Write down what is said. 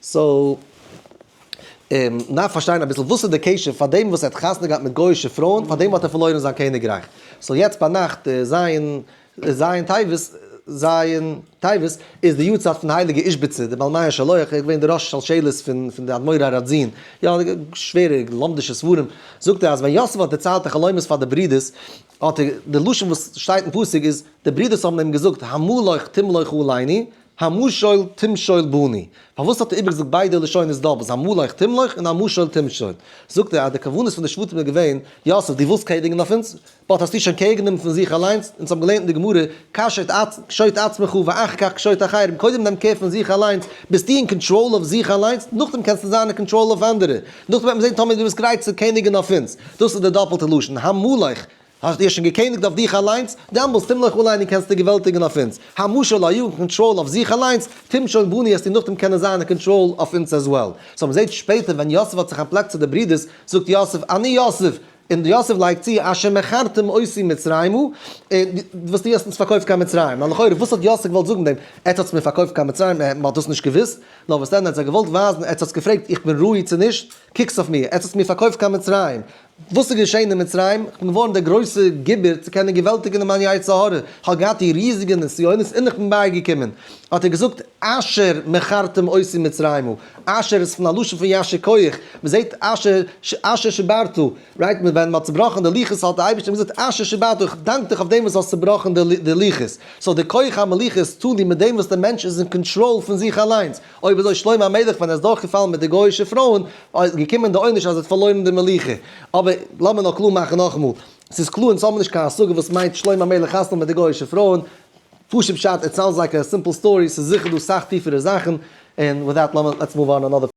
סאו, און מ'דארף פארשטיין אביסל וואס איז די קשר, פארדעם וואס ער האט חתונה געהאט מיט גוי'אישע פרויען, פארדעם האט ער פארלוירן זיין קעניגרייך. סאו יעצט ביינאכט זייון זייון טבת, זייון טבת, איז די יארצייט פון הייליגע איז'ביצע, די בעל מעיין שלח, ער איז געווען די ראש שלשלת פון פון די אדמורי ר ראדזין, יא, שווערע לומד'ישע ספרים, זאגט ער אז ווען יוסף האט דערציילט די חלומות פאר די ברידערס, האט ער, די לשון וואס שטייט אין פסוק איז, די ברידערס האבן אים געזאגט, המה לך תמלוך עליני, המשול תמשול בני, פארוואס האט ער איבערגעזאגט ביידע לשונות דא וואס אמול איך תמלוך און המשול תמשול? זאגט ער אז די כוונות פון די שבטים איז געווען, יוסף דו ווילסט קעגנעגן אויף אונז, באט האסטו שוין קעגנגענומען פון זיך אליינס, אונז האבן געלערנט אין די גמרא, קש את קשוט עצמך ואחר כך קשוט אחרים, קודם נעם קער פון זיך אליינס, ביסטו אין קאנטראל אויף זיך אליינס, נאכדעם קענסטו זיין אין קאנטראל אויף אנדערע, נאכדעם וועט מען זען טאמער דו ביסט גרייט צו קעניגן אויף אונז, דאס איז די דאפעלטע לשון, המול איך. האסט דיר שוין געקעניגט אויף דיך אליינס, דעמאלס טום לך אליין און קענסט דיר געוועלטיגן אויף אונז. המשא לא יאגן קאנטראל אויף זיך אליינס, טום שוין בוני עסטו נאכדעם קענען זיין אין קאנטראל אויף אונז עז וועל. סאו מ'זעט שפעטער ווען יוסף האט זיך אנטפלעקט צו די ברידערס, זאגט יוסף אני יוסף, און יוסף לייגט צו אשר מכרתם אותי מצרימה, און וואס דו האסט אונז פארקויפט קיין מצרים. נאר לכאורה וואס האט יוסף געוואלט זאגן מיט דעם, עטס האטס מיר פארקויפט קיין מצרים, אה, מ'האט דאס נישט געוואוסט? נאר וואס דען עטס זיי געוואלט ווייזן, עטס האטס געפרעגט איך בין ראוי צו נישט? קוקטס אויף מיר, עטס האטס מיר פארקויפט קיין מצרים, וואס איז געשען אין מצרים? איך בין געווארן דער גרויסער גיבור צו קענען געוועלטיגן מיין יצר הרע, איך האב געהאט די ריזיגע נסיונות און איך בין בייגעקומען. האט ער געזאגט, אשר מכרתם אותי מצרימה, אשר איז פון א לשון פון יישר כח, מען זעט אשר שבערתו, רייט מען ווען מען האט צובראכן די לוחות האט דער אייבערשטער געזאגט אשר שבערתו, איך דאנק דיך אויף דעם וואס דו האסט צובראכן די לוחות, סאו די כח המלוכה איז טאן דו מיט דעם וואס דער מענטש איז אין קאנטראל פון זיך אליינס, אויב אזוי שלמה המלך ווען ער איז דורך געפאלן מיט די גוי'אישע פרויען איז געקומען די עונש אז ער האט פארלוירן די מלוכה, אבער לאמיר נאר קלאר מאכן נאכאמאל, ס'איז קלאר אונז האבן נישט קיין השגה וואס מיינט שלמה המלך חתונה מיט די גוי'אישע פרויען, פשוט פשט איט סאונדס לייק א סימפל סטארי ס'איז זיכער דא סאך טיפערע זאכן, און וויט דעט לאמיר לעטס מאוו אן אנאדער.